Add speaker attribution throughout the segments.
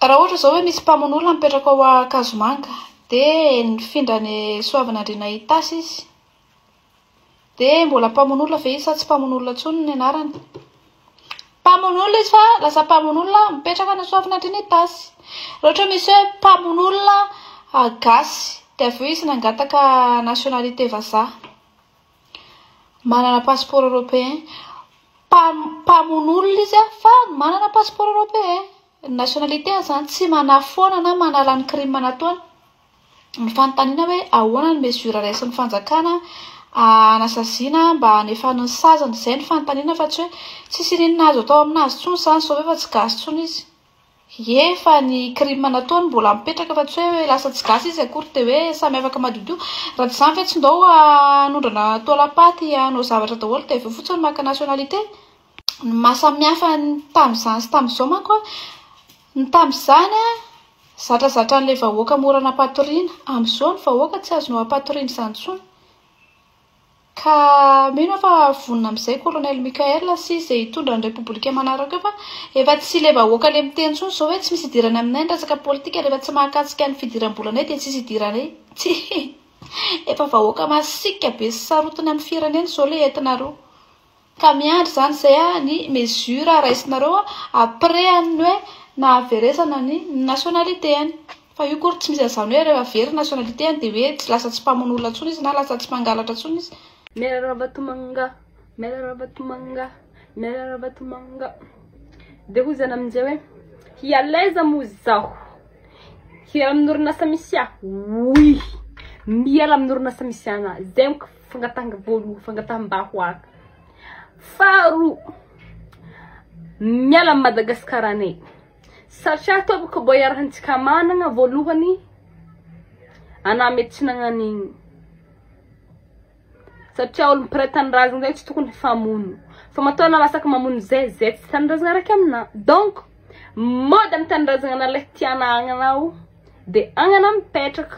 Speaker 1: Raha ohatra izao hoe misy mpamono olona mipetraka ao Ankazomanga, dia nifindra any Soavinandriana Itasy izy, dia mbola mpamono olona ve izy sa tsy mpamono olona intsony ny anarany? Mpamono olona izy fa lasa mpamono olona mipetraka any Soavinandriana Itasy. Raha ohatra hoe misy hoe mpamono olona gasy, dia avy eo izy nangataka nationalité vazaha. Manana passeport européen. Mpamon' olona izy fa manana passeport européen. Ny nationalité-ny izany tsy manafoana na manala ny crime nataony. Ny fanontaniana hoe ahoana ny mesure raisin'ny fanjakana hanasaziana mba hanefany ny saziny. Izay no fanontaniana fa tsy hoe tsisy inona inona azo atao amin'azy intsony izany sao efa tsy gasy intsony izy. Ie fa ny crime nataony mbola mipetraka fa tsy hoe lasa tsy gasy izy akory de hoe samy afaka madiodio raha tsy izany ve tsy ndao hanondrana taolam-paty hanao zavatra daholo de aveo fotsiny maka nationalité ny maha samy hafa ny tamin'izany sy tamin'izao manko an ny tamin'izany an zatra zatra an'ilay vahoaka mora nampatoriana amin'izao ny vahoaka tsy azonao ampatoriana izany intsony Ka mino aho fa vonona amin'izay Kolonely Mickaël sy izay hitondra ny Repoblika manaraka eo fa efa tsy ilay vahoaka le miteny intsony izao hoe tsy misy idirany aminay ny resaka politika rehefa tsy mahakasika ny fidiram-bolanay dia tsisy idiranay tsia efa vahoaka masiaka be sy sarotiny amin'ny firenena izao le entinareo Ka miandry zany zay ah ny mesure raisinareo après an ny hoe nahaveresana ny nationalité any. Fa io kory tsy misy an'izany hoe rehefa very ny nationalité any de hoe lasa tsy mpamono olona tsony izy na lasa tsy mpangalatra tsony izy. Miala Ravatomanga,
Speaker 2: miala Ravatomanga, miala Ravatomanga Dia hoy izany amin'izay hoe hialaiza moa izaho Hiala amin'orinasa misy ahy Oui Miala amin'orinasa misy anah Zay amiko Fangatahana voalohany, fangataham-bahoaka. Faharoa, miala amin'i Madagasikara anay. Satria tompoko mba iarahantsika manana voalohany anà mety tsy nagnan'igny. Satria olo mpiray tanindrazana zay tsy tokony hifamono. Fa matoa anà masaky mamono zay, zay tsy tanindrazana raiky aminà. Donc, mody amin'ny tanindrazana anà le tianà agnanà o, de agnanà mipetraka.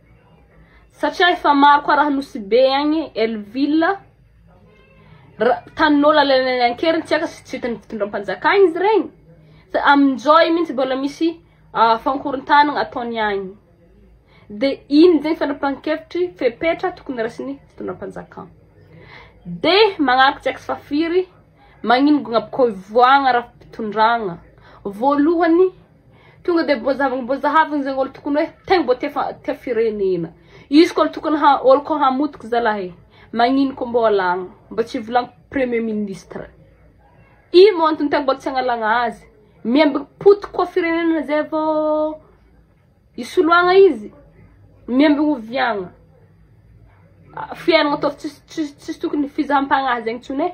Speaker 2: Satria efa maro koa raha Nosy-Be agny, Elville, ra- tanin'olo alainay an-keriny tsy aka tsy hitan'ny fitondram-panjakana izy regny fa amin-joy mintsy mbola misy ah, fankorontanagna ataony agny. De ino zegny fanapahan-kevitry fepetra tokony raisin'ny fitondram-panjakana. De magnaraka tsy aka fa firy, magnino gny ampikoivoagna ara-pitondragna. Voalohany, Tonga dia mbo zavagna mbo zahavina zegny olo tokony hoe tegna mbo tia tia firenena. Izy koa tokony ha olo koa hamotika zalahy e. Magnino koa mbo alagna. Mbo tsy volagny premier ministre. Ino moa antony tegna mbo tsy agnalagna azy. Miemby potika koa firenena zay vô isoloagna izy. Miemby oviagna. Fiaignana ataovy tsisy tsisy tsisy tokony fizaham-pagnahy zegny tsony e.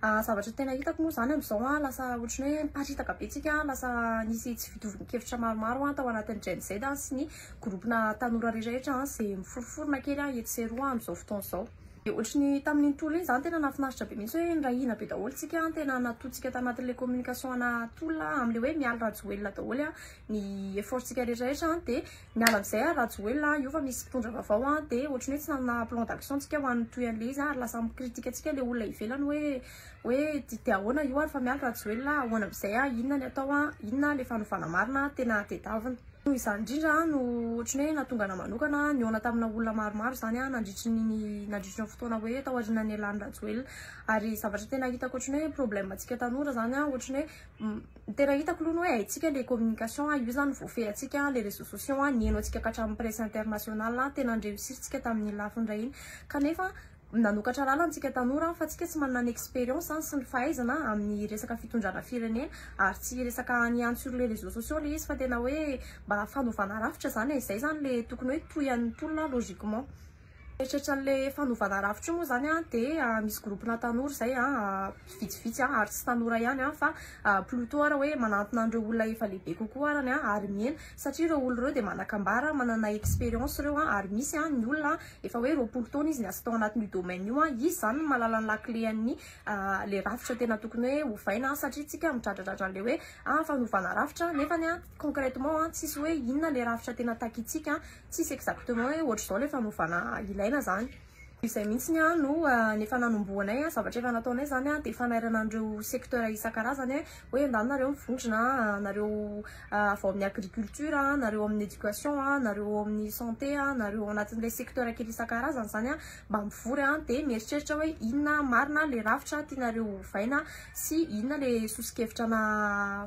Speaker 3: Zavatra tena hitako moa izany amin'izao an, lasa ohatran'ny hoe miparitaka be tsika, lasa nisy tsy fitovian-kevitra maromaro an tao anatin'ny Gen Z an sy ny gropona tanora rehetrarehetra an, izay miforoforona kely an etsy sy eroa amin'izao fotoana izao. Dia ohatran'ny tamin'iny tolona iny izany tena nahafinaritra be mihitsy hoe nirahina be daholo tsika an, tena natoantsika tanatin'ilay communication ana tolona an, amin'ilay hoe mialy Rajoelina daholo an ny effort-tsika rehetrarehetra an, dia Miala amin'izay ary Rajoelina a, io fa misy mpitondra vaovao a, dia ohatry ny hoe tsy nanana plan d'action tsika ho an'ny toy an'ilay izy a, ary lasa mi-critique antsika ilay olona ivelany hoe hoe dia dia ahoana io ary fa miala Rajoelina a, ahoana amin'izay a, inona ny atao a, inona ilay fanovana marina a, tena tedavina. Noho izany indrindra a, no ohatry ny hoe nahatonga anah manokana nihaona tamina olona maromaro izany a, nandritry ny ny nandritry ny fotoana hoe taorianan'ny nialan'i Rajoelina, ary zavatra tena hitako ohatry ny hoe problème antsika tanora izany a, ohatry ny hoe Tena hitako aloha ny hoe haintsika le communication a, io zany voafehy antsika an, le réseaux sociaux an, nihaino antsika ka hatramin'ny presse internationale an, tena ni-reussir-tsika tamin'iny lafiny iray iny, kanefa nanokatra lalana antsika tanora fa antsika tsy manana ny expérience an, sy ny fahaizana amin'ny resaka fitondrana firenena, ary tsy resaka any ihany sur les réseaux sociaux le izy fa tena hoe mba fanovana rafitra zany e, zay zany le tokony hoe tohian'ny tolona logiquement. Mieritreritra an'ilay fanovana rafitra io moa izany an, dia misy groupe-na tanora izay an, vitsivitsy an, ary tsy tanora ihany an, fa plutot ara hoe manantona an'ireo olona efa lehibe kokoa arany an, ary mihena satria ireo olona ireo dia manan-kambara, manana expérience ireo an, ary misy an ny olona an efa hoe roapolo taona izy niasa tao anatin'io domaine io an, izy izany no mahalala ny lakile an'ny ilay rafitra tena tokony hoe ovaina an, satria isika midradradradra an'ilay hoe an fanovana rafitra, nefany an concrètement an tsisy hoe inona ilay rafitra tena takintsika an. Tsisy exactement hoe ohatr'izao ilay fanovana ilaina zany. Izay mihitsy ny no efa nanombohanay zavatra efa nataonay zany dia fanairana an'ireo secteur isan-karazany hoe ndao nareo mivondrona nareo avy ao amin'ny agriculture, nareo amin'ny éducation, nareo ao amin'ny santé, nareo ao anatin'ilay secteur kely isan-karazany zany mba mivory an dia mieritreritra hoe inona marina le rafitra tianareo hovaina sy inona le sosokevitra na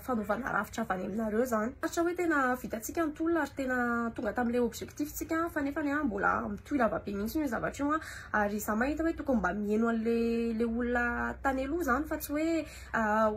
Speaker 3: fanovana rafitra avy any aminareo zany aritra hoe tena vitantsika ny tolona ary tena tonga tam'le objectif tsika fa nefa ny an mbola mitohy lava be mihitsy ny zavatra io an ary za mahita hoe tokony mba mieno an'le le olona tany aloha zany fa tsy hoe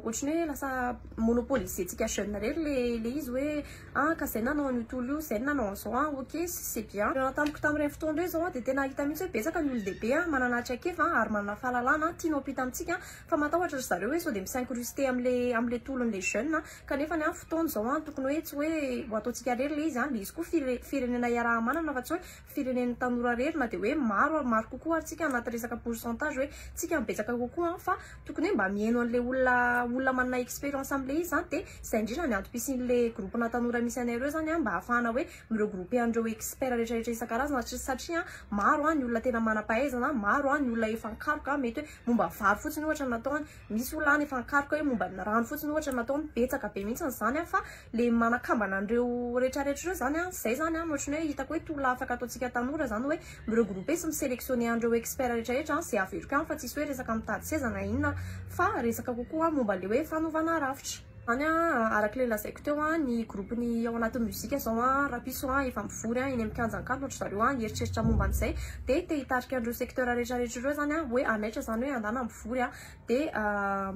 Speaker 3: ohatriny hoe lasa monopoliser tsika jeune rery le le izy hoe Ah ka zay nanao an'io tolo io, zay no nanao an'izao an, ok, c'est bien. Tamiko tamin'ireny fotoana ireny izao dia tena hita mihitsy hoe betsaka ny olon-dehibe manana traikefa ary manana fahalalana tiany ho ampita amintsika fa matahotra ry zareo hoe sao dia mi-s'incruster amin'ilay amin'ilay tolon'ilay jeune kanefa ny fotoana izao tokony hoe tsy hoe ho ataontsika irery ilay izy an, ilay izy koa firenena iaraha-manana fa tsy hoe firenen'ny tanora rery na dia hoe maro ary maro kokoa ary tsika anaty resaka pourcentage hoe tsika no betsaka kokoa an, fa tokony hoe mba miheno an'ilay olona olona manana expérience amin'ilay izy zany dia izay indrindra ny antom-pisian'ilay groupe na tanora misy anay ireo zany an, mba hahafahana hoe mi-regrouper an'ireo experts rehetra rehetra isan-karazana satria satria an maro an ny olona tena manam-pahaizana, maro an ny olona efa an-karoka mety hoe momba vary fotsiny ohatra no ataony. Misy olona any efa ankaroka hoe momba ny rano fotsiny ohatra no ataony, betsaka be mihitsy izany an, fa le manakambana an'ireo rehetra rehetra ireo izany an, izay izany an, ohatran'ny hoe hitako hoe tolona afaka ataontsika tanora izany hoe mi-regrouper sy mi-selectionner an'ireo experts rehetra rehetra an, izay averiko ihany fa tsisy hoe resaka mitady seza na inona fa resaka kokoa momba le hoe fanovana rafitra. Zany a araka ilay lazaiko teo a ny groupe ny ao anatin'ny musique izao a rapiso a efa mivory a eny amin'ny kianja ankalo ohatra zareo a hieritreritra momba an'izay de te hitarika an'ireo secteur rehetra rehetra ireo zany a hoe hanaitra zany hoe andana mivory a de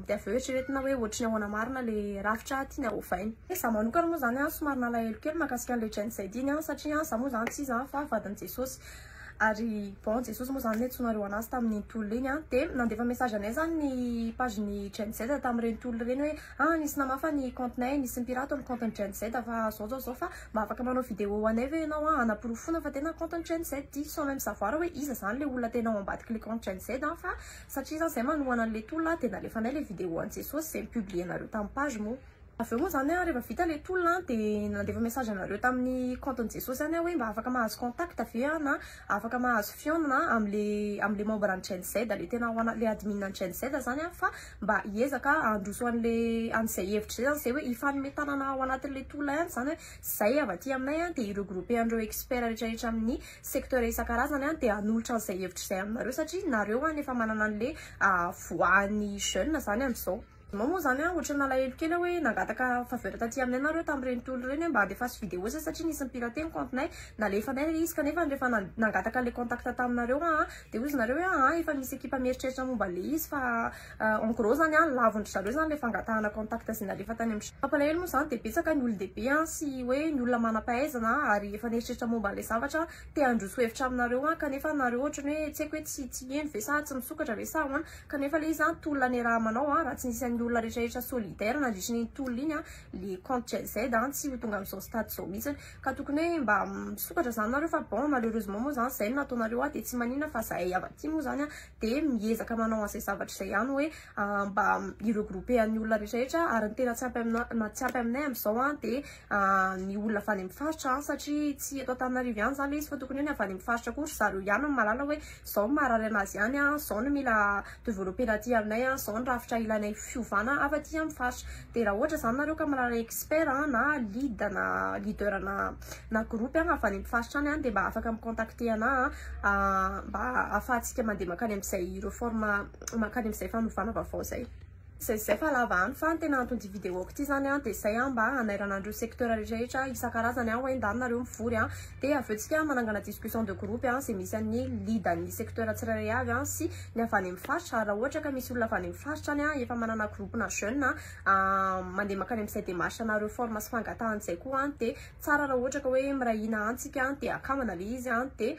Speaker 3: de avy eo eritreretina hoe ohatry ny ahoana marina le rafitra tiana hovaina de za manokana moa zany a somary nalahelo kely makasika an'le Gen Z iny a satria za moa zany tsy iza fa vadin'i Jesosy Ary bon Jesosy moa izany ne tsy naharoa anazy tamin'iny tolona iny an! Dia nandefa message anay izany ny page ny Gen Z tamin'ireny tolona ireny hoe ah nisy namafa ny compte nay, nisy nipirate ny compte ny Gen Z fa zao zao zao fa mba afaka manao video ho anay ve ianao an! hanaporofoana fa tena compte ny Gen Z ity sans même savoir hoe iza izany ilay olona tena ao ambadiky ilay compte Gen Z an! fa satria izany izahay manohana an'ilay tolona dia nalefanay ilay video an'i Jesosy izay ni-publier-nareo tamin'ny page moa Avy eo moa zany a, rehefa vita le tolona a, de nandefa message anareo tamin'ny compte n'i Jesosy any aho hoe mba afaka mahazo contact ve aho na afaka mahazo fihaonana am'le am'le membre an'i Gen Z, le tena ho ana- le admin an'i Gen Z zany a, fa mba hiezaka handroso an'le an'zay hevitra zay zany, zay hoe hifanome tanana ao anatin'le tolona ihany zany hoe zay avy aty aminay a, de hi-regrouper an'ireo experts rehetrarehetra amin'ny secteur isan-karazany a, de hanolotra an'zay hevitra zay aminareo satria nareo any efa manana an'le voix-n'ny jeune zany am'zao. Mao moa zany a ohatry ny nalahelo kely aho hoe nangataka faveur taty aminay nareo tamin'ireny tolo ireny hoe mba andefaso vidéo zay satria nisy ni-pirate ny compte-nay, nalefanay ilay izy kanefa rehefa nangataka an'ilay contact taminareo aho dia hoy izy nareo hoe aa efa misy ekipa mieritreritra momba an'ilay izy fa en gros zany a lavon-dry zareo zany ilay fangatahana contact zay nalefa tany amin'ny Mampalahelo moa zany dia betsaka ny olon-dehibe an sy hoe ny olona manam-pahaizana ary efa nieritreritra momba an'ilay zavatra te handroso hevitra aminareo an kanefa nareo ohatry ny hoe tsy haiko hoe tsy tsy heno ve sa tsy misokatra ve sa ahoana Kanefa le izy tolona niarahamanao raha tsy nisy an'iny olona retraretra solidaire nandritra iny tolona iny le compte GIZ tsy ho tonga amzao stade zao mitsy ka tokony hoe mba misokatra zany nareo fa bon malheureusement moa zany zay no nataonareo ahy de tsy manina fa zahay avy aty moa zany de miezaka manao anzay zavatra zay ihany hoe mba mi regrouper an'ny olona retraretra ary ny tena tsy ampy aminay amzao de ny olona avy any amin'ny faritra an, satria tsy eto Antananarivo ihany izany ilay izy fa tokony hoe ny avy any amin'ny faritra koa ry zareo ihany no mahalala hoe izao no maharary anazy any an, izao no mila developper-na aty aminay an, izao ny rafitra ilainay fiovana avy aty amin'ny faritra. Dia raha ohatra izany nareo ka mahalala expert an, na lead na leader na na groupe an, avy any amin'ny faritra any an, dia mba afaka mi-contacter anà an, mba ahafahantsika mandeha mankany amin'izay reforme mankany amin'izay fanovana vaovao izay. Zay zay fa lava any fa ny tena anton'ity vidéo-ko ity zany an dia zay an mba hanairana an'ireo secteur rehetrarehetra isan-karazany an ho endahy nareo mivory an dia avy eo tsika manangana discussion de groupe an zay misy an'ny lead an'ny secteur tsirairay avy an sy ny avy any amin'ny faritra ary raha ohatra ka misy olona avy any amin'ny faritra any an efa manana groupe na jeune an mandeha mankany amin'izay démarche na reforme sy fangatahan'izay koa an dia tsara raha ohatra ka hoe miray hina an tsika an dia akamana ilay izy an dia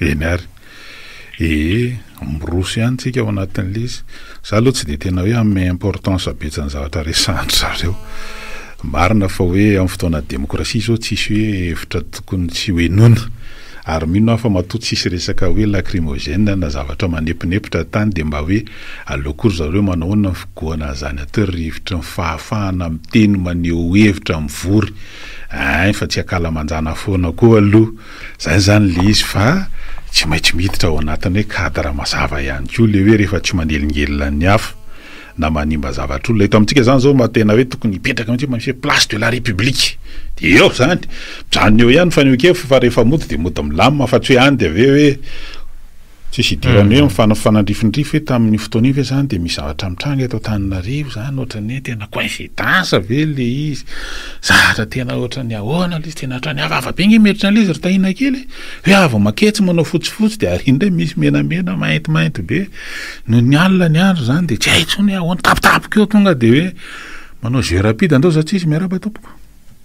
Speaker 4: Eny ary.
Speaker 5: Ee, miroso ihany tsika ao anatin'ilay izy. Za aloha tsy dia tena hoe hanome importance betsa ny zavatra resahan-dry zareo. Marina fa hoe amin'ny fotoana demokrasia izao tsisy hoe hevitra tokony tsy hohenoina. Ary mino aho fa matoa tsisy resaka hoe lacrymogène na zavatra manemponepitra tany dia mba hoe aleo koa ry zareo hoe manao ahoana ny figohana an'izany atao ry rivotry ny fahafahana miteny maneho hevitra mivory ein fa tsy akalamanjana foana koa aloha Izay izany ilay izy fa tsy maintsy miditra ao anatin'ny hoe cadre mazava ihany koa ilay hoe rehefa tsy manelingelina ny hafa na manimba zavatra olona. Eto amintsika izany izao mba tena hoe tokony hipetraka mihitsy mba misy hoe place de la République. Dia eo izany. Mijanona eo ihany ny fanehoan-kevitra fa rehefa mody dia mody milamina fa tsy hoe any dia avy eo hoe Tsisy idirany hoe mifanandrifinrify hoe tamin'io fotoana io ve zany dia misy zavatra mitranga eto Antananarivo zany ohatran'ny hoe tena coincidence ve le izy, zavatra tena ohatran'ny ahoana le izy, tena ohatran'ny hafahafa be nge mihevitra an'le izy ry Tahiana kely e, hoe avy maketsy manao fotsifotsy dia ary indray misy menamena maintimainty be, noho ny alina ny andro zany dia tsy hay intsony hoe ahoana, tampotampoka eo tonga dia hoe manao jeu rapide andao za tsy izy miarahaba tompoko.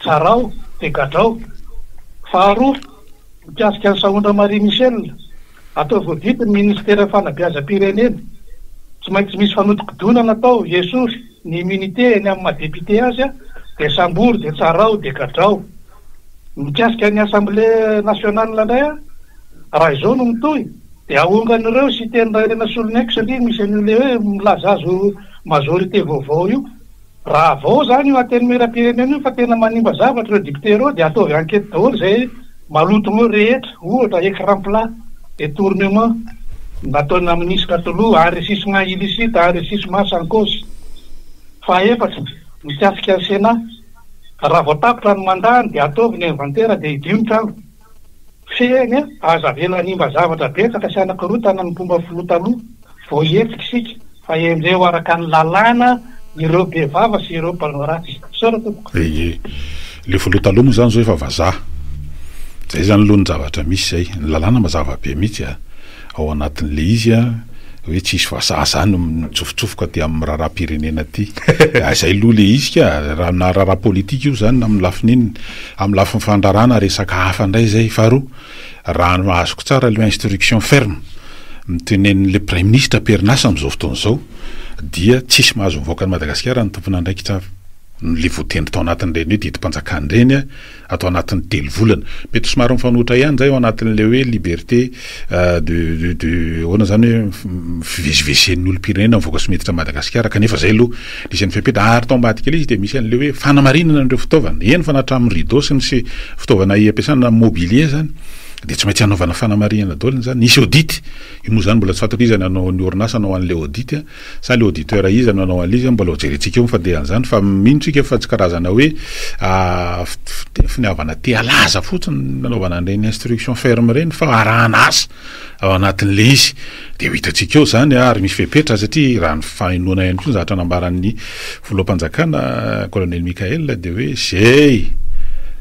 Speaker 6: Tsarao dia gadrao. Faharoa, mikasika an'i Sahondra Marie Michelle, ataovy ho didy ny Ministeran'ny Fanabeazam-pirenena. Tsy maintsy misy fanodinkodonana atao hiesory ny immunité eny amin'ny maha député azy dia sambory dia tsarao dia gadrao. Mikasika ny Assemblée Nationale indray raha izao no mitohy dia ahongan'ireo Siteny Rairena Solonaiky satria misy an'io le hoe milaza azy ho majorité vaovao io. Raha vao izany io Antenimierampirenena io fa tena manimba zavatra ireo députés ireo dia ataovy enquête daholo izay maloto eo rehetra, ohatra écran plat, détournement, nataona minisitra taloha, enrichissement illicite, enrichissement sans cause. Fahaefatra, mikasika ny Sénat, raha vao tapitra ny mandat-ny dia ataovy ny inventaire dia hidio ny trano. Fehiny a! Aza avela hanimba zavatra betsaka sy hanakorontana ny mpomba filoha taloha vao hihetsika isika fa henjeho araka ny lalàna ireo be vava sy ireo mpanao ratsy. Misaotra tompoko. Ee, le
Speaker 5: filoha taloha moa izany zao efa vazaha. Zay zany aloha ny zavatra misy zay. Ny lalàna mazava be mihitsy a! ao anatin'le izy a, hoe tsisy fa za za no mitsofotsofoka aty amin'ny raharaham-pirenena aty, ah zay loha le izy ka, raha na raharaha politika io zany na amin'ny lafiny inona, amin'ny lafiny fandrarana resaka hafa ndray zay, faharoa raha ny azoko tsara le instruction ferme mitenenin'le praiminisitra am-perinasa amin'izao fotoana izao dia tsisy mahazo mivoaka an'i Madagasikara ny tompon'andraikitra avy, le voatendry tao anatin'ireny hoe didim-panjakana ireny a, atao anatin'ny telo volana. Mety ho somary mifanohitra ihany izay ao anatin'ilay hoe liberté de de de ahoana izany hoe fivezivezen'ny olom-pirenena mivoaka sy miditra Madagasikara kanefa izay aloha nisy an'ny fepetra ary tao ambadika ilay izy dia misy an'ilay hoe fanamarinana an'ireo fitaovana. Eny fa na hatramin'ny rideau sy ny se fitaovana ampiasana na mobilier izany dia tsy maintsy hanaovana fanamarinana daholo izany. Hisy audit. Io moa izany mbola tsy fantatra iza no hanao ny orinasa hanao an'ilay audit. Sa le auditeur iza no hanao an'ilay izy? Mbola hojerentsika eo ny fandehan'izany fa mino tsika fa tsy karazana hoe finiavana te halaza fotsiny ny nanaovana an'ireny instruction ferme ireny fa arahana asa ao anatin'ilay izy dia ho hitantsika eo izany ary misy fepetra satria raha ny fahenoana ihany koa ny zavatra nambaran'ny filoham-panjakana Colonel Mickaël dia hoe izay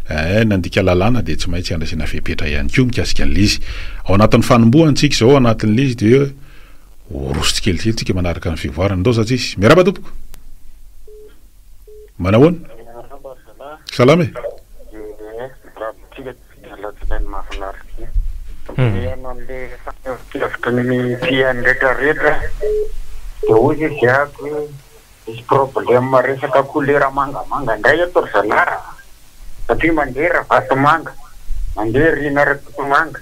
Speaker 5: eh, nandika lalàna dia tsy maintsy handraisana fepetra ihany koa mikasika an'ilay izy. Ao anatin'ny fanombohantsika izao ao anatin'ilay izy dia Ho roso tsikelikely tsika manaraka ny fivoarana ndao zaza izy. Miarahaba tompoko. Manahoana? Salama e.
Speaker 7: Misy problème resaka kolera mangamanga ndray eto ry zalahy a! satria mandeha Ravatomanga, mandeha Rina Rakotomanga,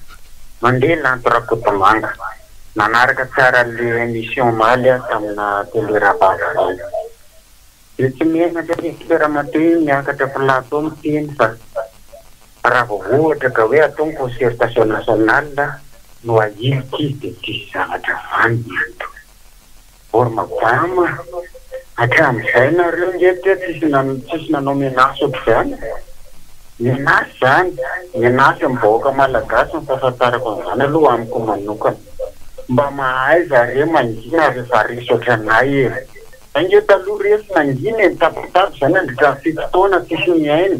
Speaker 7: mandeha Lanto Rakotomanga. Nanaraka tsara an'le émission omaly aho tamina télé Ravatomanga. Dia tsy menatra anie tsika ramatoa miakatra plateau miteny fa raha vao ohatra ka hoe atao ny concertation nationale no ahilika izy dia tsisy zavatra vanona eto. Or madama hatramin'izay nareo nge teo tsisy tsisy nanao menace ohatr'izany e! Menace zany, menace amin'ny vahoaka malagasy ny fahafantarako an'izany aloha amiko manokana. Mba mahaiza are mangina rehefa resy ohatranay e! Zay nge taloha resy nangina e, nitabataba izay nandritra ny fito taona tsisy nihaino.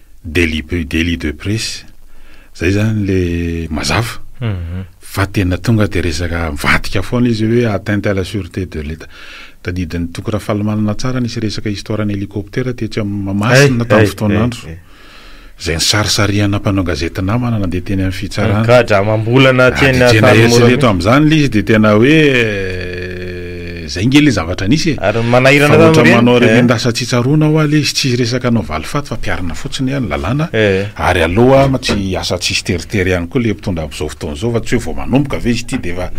Speaker 5: Deli deli de presse zay zany le mazava fa tena tonga de resaka mivadika foana izy hoe atteinte à la sûreté de l'Etat. Tadidin'i Toky Rafalimanana tsara nisy resaka histoire an'i hélicoptère tetsy amin'ny Mahamasina tamin'ny fotoan'andro zay nisarisarihana mpanao gazety namana nandeha teny amin'ny fitsarana. Gadra amam-bolana
Speaker 8: teny Antanimora. Eto amin'izany
Speaker 5: le izy de tena hoe. Zay nge le zavatra nisy e! Ary manahirana Fa ohatran'ny
Speaker 8: manao tamin'ireny, eh. remendasa
Speaker 5: tsy tsaroana hoa le izy tsisy resaka hanao valifaty fa mpiarina fotsiny an ny lalàna Eh. ary aleo hoa tsy asa tsisy teritery ihany koa le mpitondra amzao fotoana zao fa tsy hoe vao manomboka ve izy ity de efa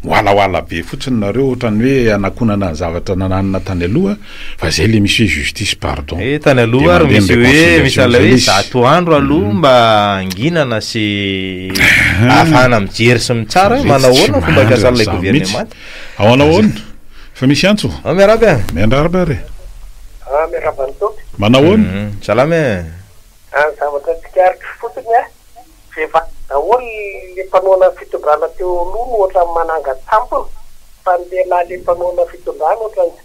Speaker 5: miwalaoala be fotsiny nareo ohatran'ny hoe hanakonana ny zavatra nananina tany aloha fa zay le misy hoe justice pardon Eh, tany aloha ary Demander
Speaker 8: ny misy hoe misy reconciliation lalao zay hoe le izy. zato andro aloha mba hanginana sy ahafahana mijery sy mitsara hoe Zay manao tsy ahoana ny fomba mandry fiasan'ilay an'izany mihitsy. governemanta. Ao anao ahoana?
Speaker 5: Fa misy antso? Ao miarahaba e! Miandrarba
Speaker 8: ary e!
Speaker 5: Ah, miarahaba
Speaker 7: an'i Tompy. Manao ahoana? Hum,
Speaker 8: salama e! Ah,
Speaker 7: zavatra tsikaritra fotsiny an, rehefa daholo le mpanohana ny fitondrana teo aloha no ohatran'ny manangan-tsampona, fa ny lehilahy le mpanohana fitondrana ohatran'ny